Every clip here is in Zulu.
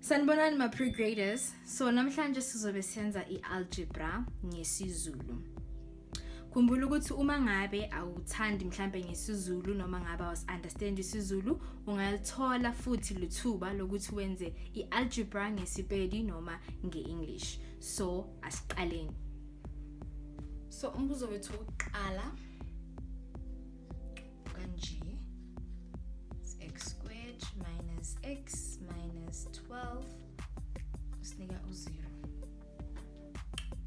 Sanibonani ma pre graders. So namhlanje sizobe senza ialgebra ngesiZulu. Khumbula ukuthi uma ngabe awuthandi mhlambe ngesiZulu noma ngabe awusunderstand isiZulu, ungalithola futhi luthuba lokuthi wenze ialgebra ngesipedi noma ngeenglish. So asiqaleni. so umbuzo wethu wokuqala kanje x squared minus x minus 12 usinika u-0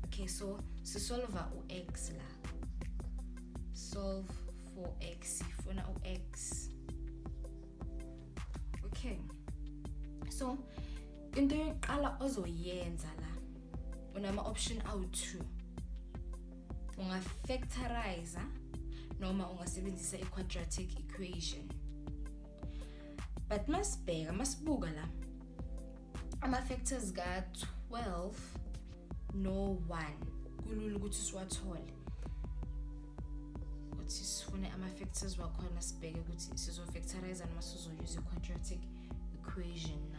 okay so sisolva u-x la solve for x sifuna u-x okay so into yokuqala ozoyenza la unama option awu two unga factorize noma ungasebenzisa i quadratic equation but masibheka masibuka la ama factors ka 12 no 1 kulula ukuthi siwathole ukuthi sifune ama factors wakhona sibheke ukuthi sizo factorize noma sizo use quadratic equation na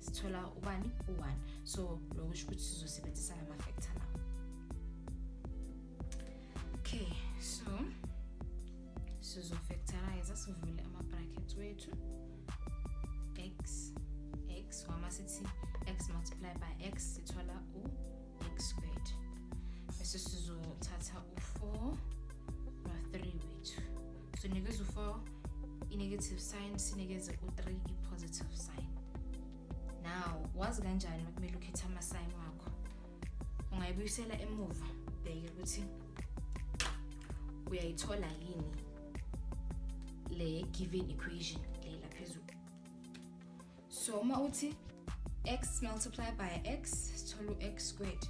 sithola ubani u-1 so lokho kusho ukuthi sizosebenzisa la mafektha lawo okay so sizofektharayiza sivule ama-bracket wethu x x wama sithi x multiply by x sithola u-x squared bese sizothatha u-4 no-3 wethu sinikeza u-4 i-negative sign sinikeze u-3 i-positive sign now wazi kanjani uma kumele ukhethe ama-sign wakho ungayibuyisela emuva bheke ukuthi uyayithola yini le given equation le laphezulu so uma uthi x multiply by x sithola u-x squared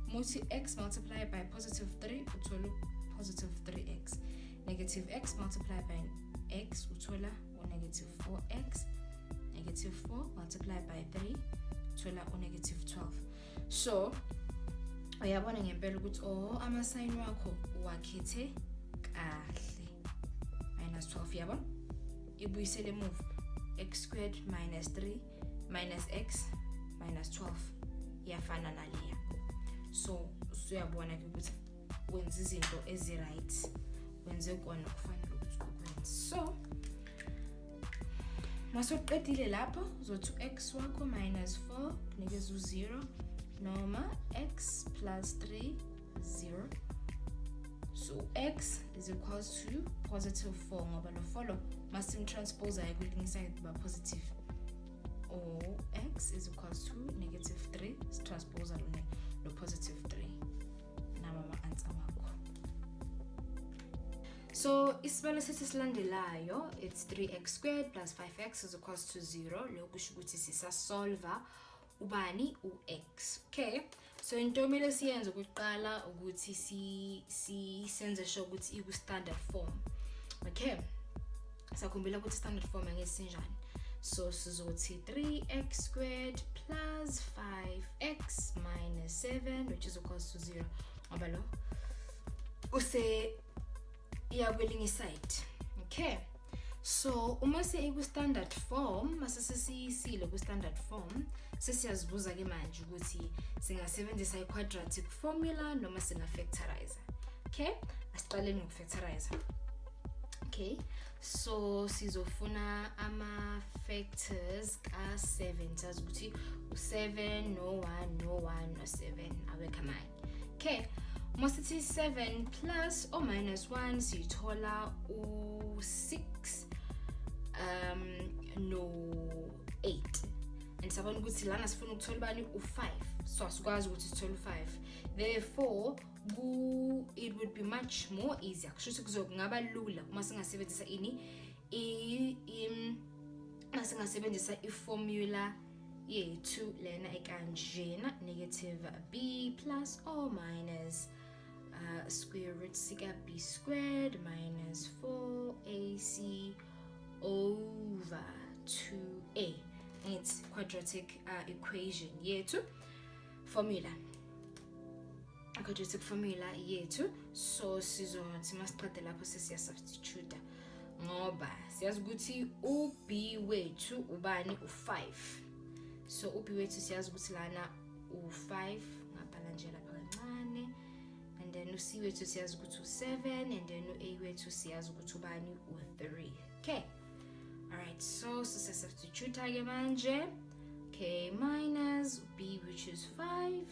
uma uthi x multiply by positive 3 uthola u-positive 3x negative x multiply by x uthola u-negative 4x negative 4 multiply by 3 uthola u-negative 12 so uyabona ngempela ukuthi o oh, amasayini wakho uwakhethe kahle minus 12 yabona ibuyisele emuva x squared minus 3 minus x minus 12 iyafana naleya so suyabona ke ukuthi wenza izinto ezi-right wenze kona kufanele ukuthi ukwenze so masoqedile lapho uzothi u-x wakho minus 4 kunikeza u-0 noma x plus 3 0 so x is equals to positive 4 ngoba lo follow masimtranspose aye kwelinye iside kuba positive or x is equals to negative 3 sitranspose lona lo positive 3 nawa ama-answer wakho so isibalo sethi silandelayo it's 3x squared plus 5x is equals to 0 lokho kusho ukuthi sisasolva ubani u-x okay so into kumele siyenze ukuqala ukuthi senze sure ukuthi iku-standard form okay sakhumbula ukuthi standard form angeke sinjani so sizothi 3x squared plus 5x minus 7 which is equals to 0 ngoba lo use iya kwelinye isayidi okay so uma seyiku-standard form mase sesiyisile ku-standard form sesiyazibuza-ke manje ukuthi singasebenzisa i-quadratic formula noma singafactorize okay asiqaleni ngokufactorize okay so sizofuna ama-factors ka-7 sazi ukuthi u-7 no-1 no-1 no-7 awekho amanye okay uma sithi 7 plus o minus 1 siyithola u-6 um no-8 and sabona ukuthi lana sifuna ukuthola ubani u-5 so asikwazi ukuthi sithole u-5 therefore ku it would be much more easier kusho ukuthi kuzokungaba lula uma singasebenzisa ini i, i, uma singasebenzisa i-formula yethu lena ekanjena negative b plus or minus uh, square root sika b squared minus 4ac over 2a it's quadratic uh, equation yethu formula quadratic formula yethu so sizothi masiqede lapho sesiya substitute ngoba siyazi ukuthi ub wethu ubani u5 so ub wethu siyazi ukuthi lana u5 ngabhala nje lapha kancane and then uc wethu siyazi ukuthi u7 and then ua wethu siyazi ukuthi ubani u3 okay alright so sisesubstitute ke manje okay minus b which is 5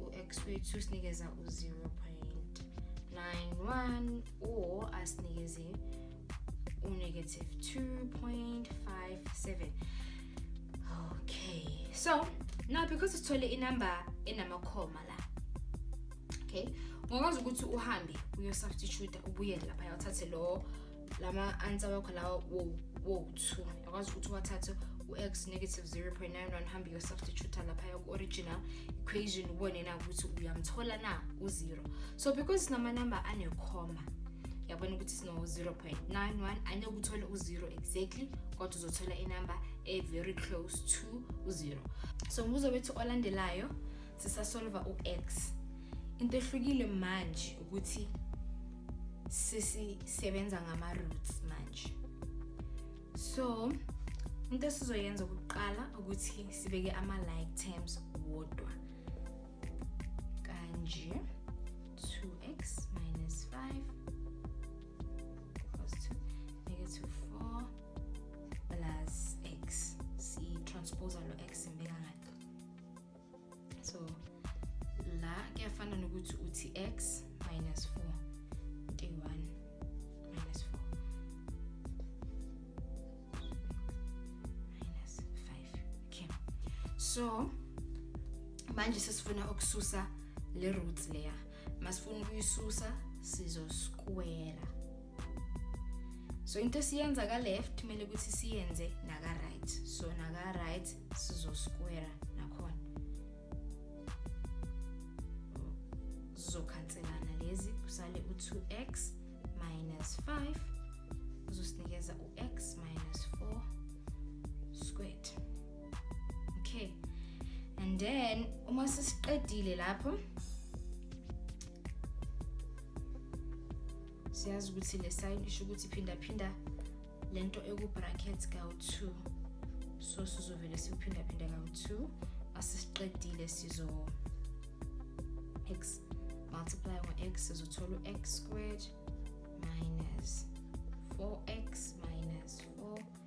u-x wethu sinikeza u-0.91 or asinikeze u-negative 2.57 okay so now because sithole inumber enamakhoma la okay ungakwazi ukuthi uhambe uyosubstitute ubuyele lapha uthathe lo lama answer wakho lawa wo wo 2 uyakwazi ukuthi uwathathe u-x negative 0.91 hambe uyosubstituta laphaya ku-original equation ubone na ukuthi uyamthola na u-0 so because sinamanumber anekhoma yabona ukuthi sino-0.91 ane ukuthole u-0 exactly kodwa uzothola inumber e-very close to u-0 so umbuzo wethu olandelayo sisasolva u-x into ehlukile manje ukuthi sisisebenza ngama-roots manje so into esizoyenza ukuqala ukuthi sibeke ama-like terms wodwa kanje 2x minus 5 equals to negative 4 plus x siyitranspose lo x sibeka ngathi so la kuyafana nokuthi uthi x minus 4 so manje sesifuna ukususa le roots leya masifuna ukuyisusa sizoskwelela so into esiyenza ka left kumele ukuthi siyenze naka right so naka right sizo square nakhona zizokhanselana lezi kusale u2x minus 5 uzosinikeza u-x minus 4 squared okay and then uma sesiqedile lapho siyazi ukuthi le sign isho ukuthi phindaphinda le nto eku-bracket kawu-two so sizovele siwuphindaphinda kawu-two asisiqedile sizo x multiply ngo-x sizothola u-x squared minus 4x minus 4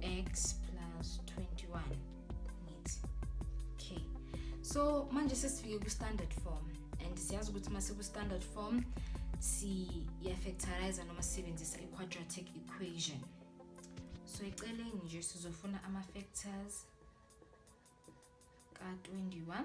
x plus 21 ngithi okay so manje sesifike ku-standard form and siyazi ukuthi uma siku-standard form siyafactorize noma sisebenzisa i-quadratic equation so eceleni nje sizofuna ama-factors ka-21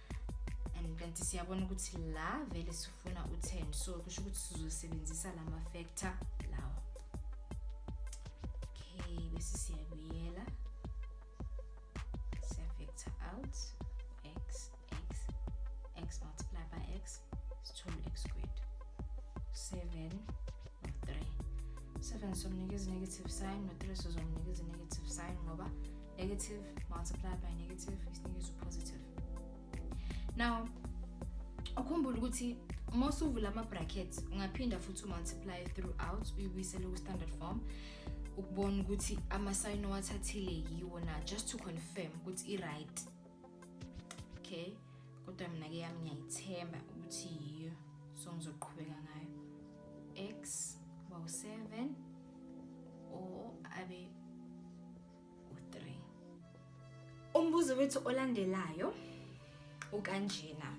and kanti siyabona ukuthi la vele sifuna u-10 so kusho ukuthi sizosebenzisa la ma-factor lawa okay bese siyabuyela siya-factor out x x x multiply by x sithole x squared 7 no-3 7 somnikeza i-negative sign no-3 sizomnikeza i-negative sign ngoba negative multiply by negative isinikeza u-positive now ukhumbula ukuthi uma usuvula ama-brackets ungaphinda futhi umultiply throughout uyibuyisele ku-standard form ukubona ukuthi amasayini owathathile yiwo na just to confirm ukuthi i-right okay kodwa mina-ke yami ngiyayithemba ukuthi yiyo so ngizoqhubeka ngayo x wawu-7 or abe u-3 umbuzo wethu olandelayo ukanjena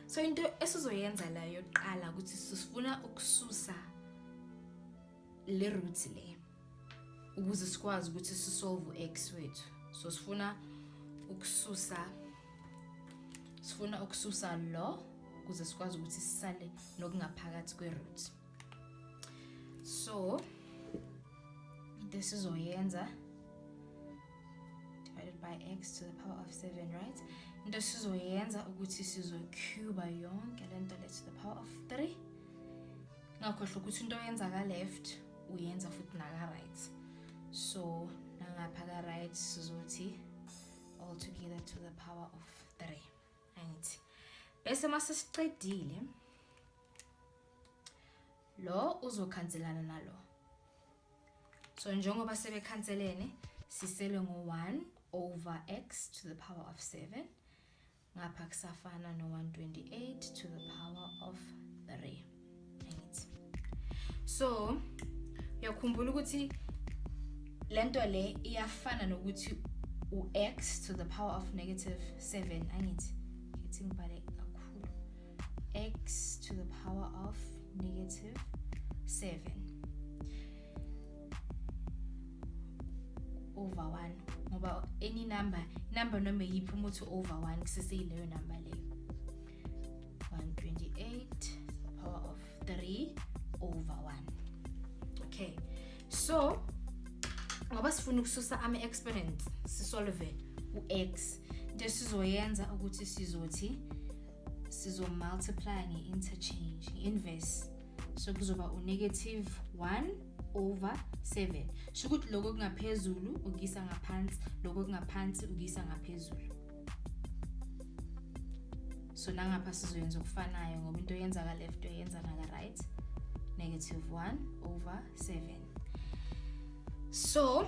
so into esizoyenza la yokuqala ukuthi sifuna ukususa le root le ukuze sikwazi ukuthi sisolve u-x wethu so sifuna ukususa sifuna ukususa lo ukuze sikwazi ukuthi sisale nokungaphakathi kwe-root so into esizoyenza divided by x to the power of 7 right into esizoyenza ukuthi sizocuba yonke le nto le to the power of 3 ngakhohlwa ukuthi into oyenza ka-left uyenza futhi naka-right so nangapha ka-right sizothi all together to the power of 3 angithi bese uma sesiqedile lo uzokhanselana nalo so njengoba sebekhanselene siselwe ngo-1 over x to the power of 7 ngapha kusafana no-128 to the power of 3 angithi so uyakhumbula ukuthi le nto le iyafana nokuthi u-x to the power of negative 7 angithi ngithi ngibhale x to the power of negative 7 over 1 ngoba any number number noma yiphi uma uthi over 1 kuseseyileyo number leyo 128 power of 3 over 1 okay so ngoba sifuna ukususa ama-exponents sisolve u-x into esizoyenza ukuthi sizothi sizo-multiply nge-interchange nge-inverse so kuzoba u-negative 1 over 7 sho ukuthi lokho kungaphezulu ukuyisa ngaphansi lokho kungaphansi ukuyisa ngaphezulu so nangapha sizoyenza okufanayo ngoba into yenza ka-left oyenza ngaka-right negative 1 over 7 so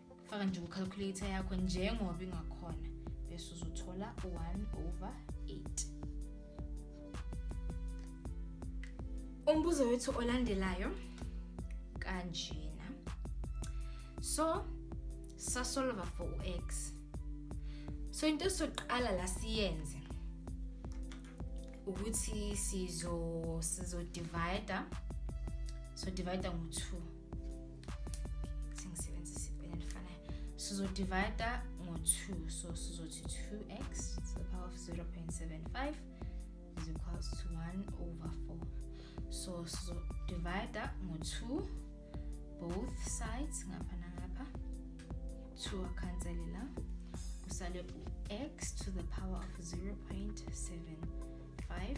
faka nje kucalculator yakho njengoba ingakhona bese uzothola 1 over 8 umbuzo wethu olandelayo kanjena so sasolva for u-x so into esizoqala la siyenze ukuthi sizo sizo divider so divider ngo-2 sengisebenzisa ipeni elifanayo sizodivida ngo-two so sizothi two x so the power of 0.75 is equals to 1 over 4 so sizodivida ngo-two both sides ngapha nangapha 2 akhansele la kusale u-x to the power of 0.75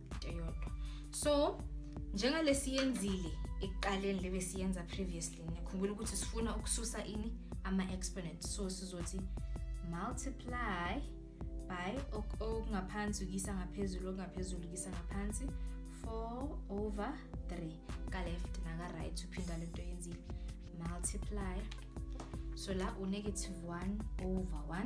into eyodwa so njengalesiyenzile ekuqaleni lebe siyenza previously nikhumbula ukuthi sifuna ukususa ini ama-exponent so sizothi multiply by okungaphansi ukuyisa ngaphezulu okungaphezulu ukuyisa ngaphansi 4 over 3 ka-left naka-right uphinda le nto yenzile multiply so la u-negative 1 over 1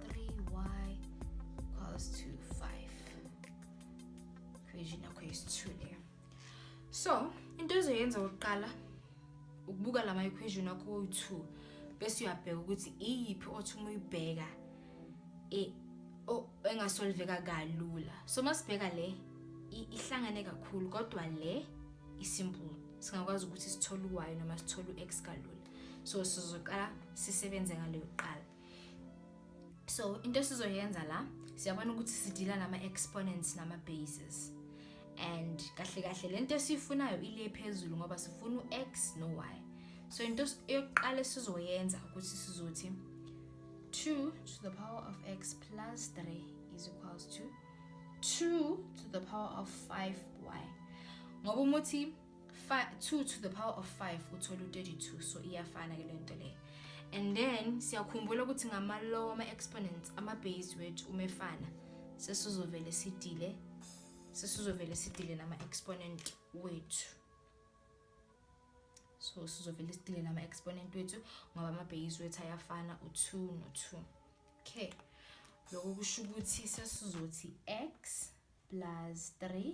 3y equals to 5 equation yakho yesithule so into ezoyenza okokuqala ukubuka lama equation akho owu2 bese uyabheka ukuthi iyiphi othi uma uyibheka e, engasolveka kalula so masibheka le ihlangane kakhulu kodwa le isimple singakwazi ukuthi sithole u-y noma sithole u-x kalula so sizoqala sisebenze ngaleyo kuqala so into esizoyenza la siyabona ukuthi sidila nama-exponents nama-bases and kahle kahle le nto esiyifunayo ile phezulu ngoba sifuna u-x no-y so into yokuqala esizoyenza ukuthi sizothi 2 to the power of x plus 3 is equals to 2 to the power of 5y ngoba umuthi 2 to the power of 5 uthola u-32 so iyafana ke lento le and then siyakhumbula ukuthi ngama-low ama-exponents ama-base wethu umefana sesizovele sidile sesizovele sidile nama-exponent wethu so sizovele sidile nama-exponent wethu ngoba ama-base wethu ayafana u-2 no-2 okay lokho kusho ukuthi sesizothi x plus 3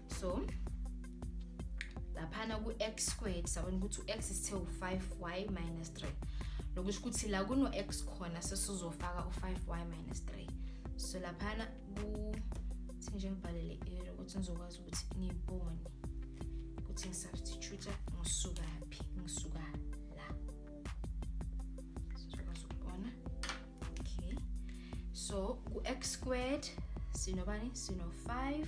so laphana ku-x squared sabona ukuthi u-x sithe u-five y minus three lokusho ukuthi la kuno-x khona sesizofaka u-five y minus three so laphana ku senje ngibhalele ero ukuthi ngizokwazi ukuthi nibone ukuthi ngisubstitute ngisuka phi ngisuka la sizokwazi ukubona okay so ku-x squared sinobani sino-five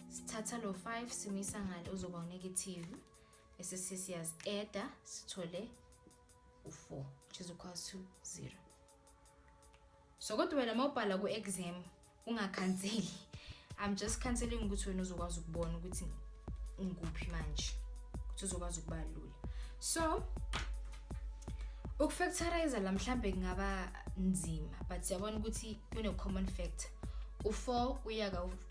sithatha lo 5 simisa ngale uzoba unegative bese sesiyazi siyazi-adda sithole u-4 which is equals to 0 so kodwa wena uma ubhala ku-exam ungakhanseli i'm just cancelling ukuthi wena uzokwazi ukubona ukuthi ngikuphi manje ukuthi uzokwazi ukubalula so ukufactorize la mhlambe kungaba nzima but siyabona ukuthi kune-common factor u-4 uya ka-2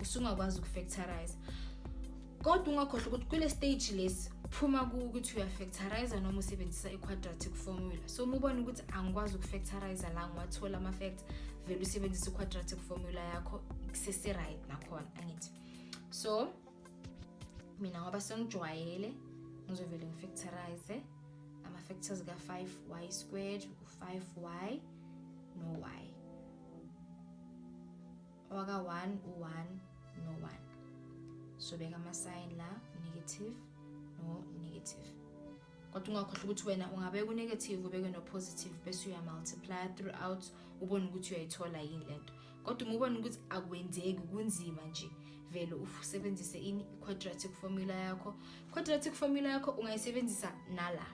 usungakwazi ukufactorize kodwa ungakhohlwa ukuthi kule stage lesi phuma kuwo ukuthi uyafactorize noma usebenzisa i-quadratic formula so uma ubona ukuthi angikwazi ukufactorize la ngiwathola ama-fact vele usebenzisa i-quadratic formula yakho kuseseright nakhona angithi so mina ngoba sengijwayele ngizovele ngifactorize ama-factors ka-5 y squared u-5 y no-y waka 1 u1 no1 so beka ama sign la negative no negative kodwa ungakhohlwa ukuthi wena ungabeka unegative ubeke nopositive bese uya multiply throughout ubone ukuthi uyayithola yini lento kodwa uma ubona ukuthi akwenzeki kunzima nje vele usebenzise ini quadratic formula yakho quadratic formula yakho ungayisebenzisa nala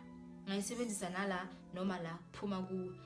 ungayisebenzisa nala noma la phuma kuwe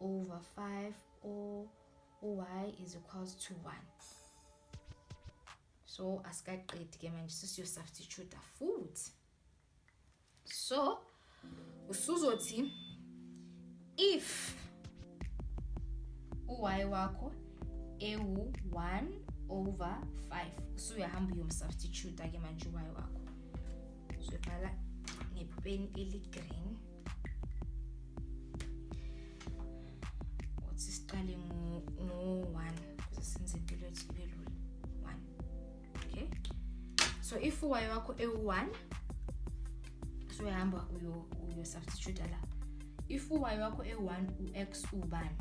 over 5 or y is equals to 1 so asikaqedi ke manje sesiyosubstitute futhi so usuzothi if uy wakho ewu-1 over 5 usuyahamba uyomsubstitute-ke manje uy wakho uzobhala nepeni eli-green ukuthi siqale ngo-one ukuze senze impilo yethu ibe lula one okay so if uwayo wakho ewu-one so uyahamba uyosubstituta la if uwayo wakho ewu-one u-x ubani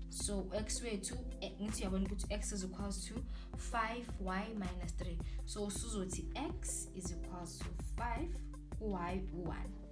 so x wethu eh, ngithi uyabona ukuthi x is equals to 5y minus 3 so usuzothi x is equals to 5 y 1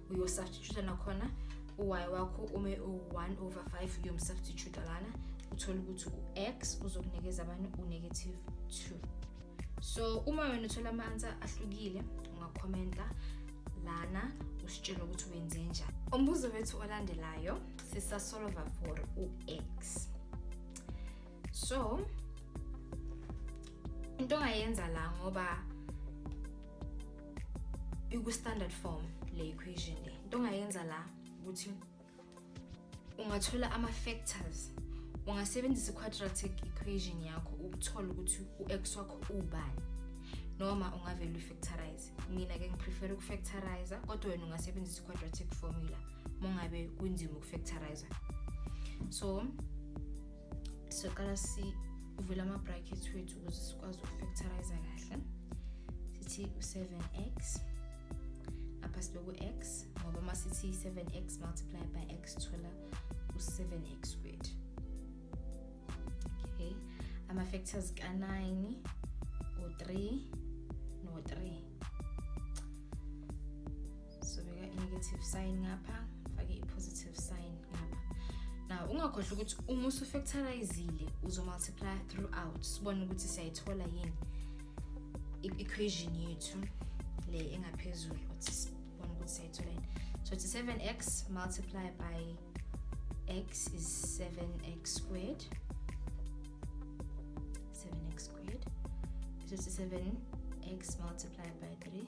uyosubstituta nakhona u-y wakho ume u-1 over 5 uyomsubstituta lana uthole ukuthi u-x uzokunikeza abanye u-negative 2 so uma wena uthola ama-answer ahlukile ungakhomenta lana usitshela ukuthi wenze njani umbuzo wethu olandelayo sisasolva for u-x so into ongayenza la ngoba ikwi-standard form le equation le into ongayenza la ukuthi ungathola ama-factors ungasebenzisa i-quadratic equation yakho ukuthola ukuthi u-x wakho ubani noma ungavele uyi-factorize mina ke ngiprefere uku-factorize kodwa wena ungasebenzisa i-quadratic formula uma ngabe kunzima uku-factorize so soqala sivule ama-brackets wethu ukuze sikwazi ukufactorize kahle sithi u-seven x apha sibeke u-x ngoba uma sithi i-seven x multiply by x thola u-seven x squared okay ama-factors ka-nine u-three no-three sobeka i-negative sign ngapha fake i-positive sign ngapha now ungakhohlwa ukuthi uma usufactorizile uzomultiply throughout sibone ukuthi siyayithola yini i-equation yethu le engaphezulu ukuthi sibone ukuthi siyayithola yini so it's 7x multiply by x is 7x squared 7x squared so it's 7x multiplied by 3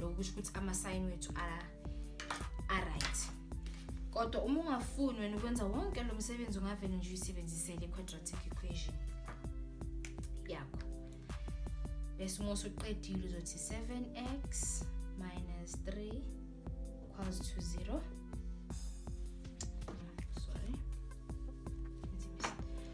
lokhu kusho ukuthi amasayini wethu a-right kodwa uma ungafuni wena ukwenza wonke lo msebenzi ungavele nje uyisebenzisele i-quadratic equation yakho bese uma usuqedile uzothi 7x minus 3 equals to 0 sorry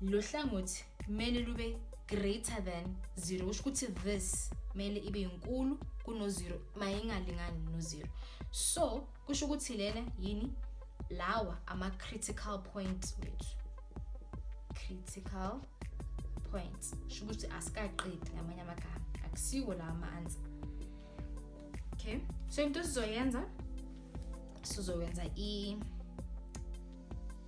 lo hlangothi kumele lube greater than zero kusho ukuthi this kumele ibe yinkulu kuno-zero mayingalingani no-zero so kusho ukuthi lena yini lawa ama-critical point wethu critical point sho ukuthi asikaqedi ngamanye amagama akusiwo lawa ama-answer okay so into esizoyenza sizowenza i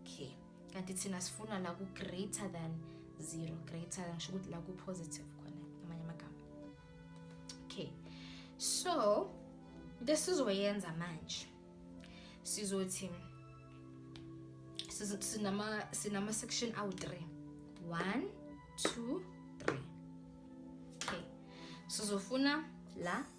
okay kanti thina sifuna la ku greater than 0 greater than kusho ukuthi la ku positive khona amanye amagama okay so lesizoyenza manje sizothi sinama sinama section awu 3 1 2 3 okay sizofuna la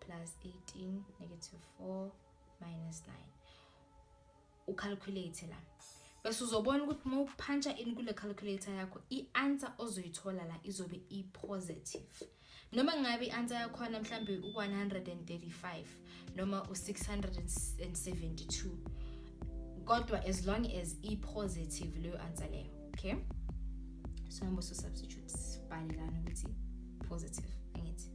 plus 18 negative 4 minus 9 ucalculate la bese uzobona ukuthi uma uphuntsha in kule calculator yakho i-answer ozoyithola la izobe i-positive noma ngabe i-answer yakhona mhlawumbe u-135 noma u-672 kodwa as long as i-positive leyo answer leyo okay so hamba so substitute sibhale lana ukuthi positive angithi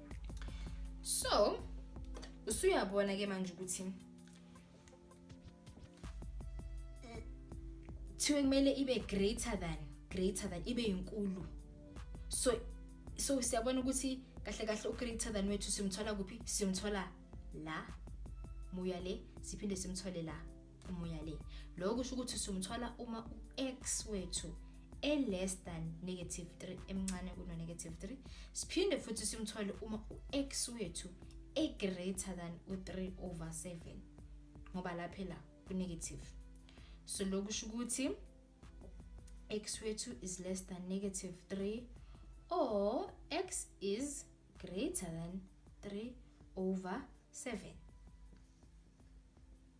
so usuyabona ke manje ukuthi kuthiwe kumele ibe greater than greater than ibe inkulu so so siyabona ukuthi kahle kahle ugreater than wethu simthola kuphi simthola la muya le siphinde simthole la umoya le lokho kusho ukuthi sumthwala uma u-x wethu e-less than negative 3 emncane kuno-negative 3 siphinde futhi simthole uma u-x wethu e-greater than u-3 over 7 ngoba laphela ku-negative so lokhu kusho ukuthi x wethu is less than negative 3 or x is greater than 3 over 7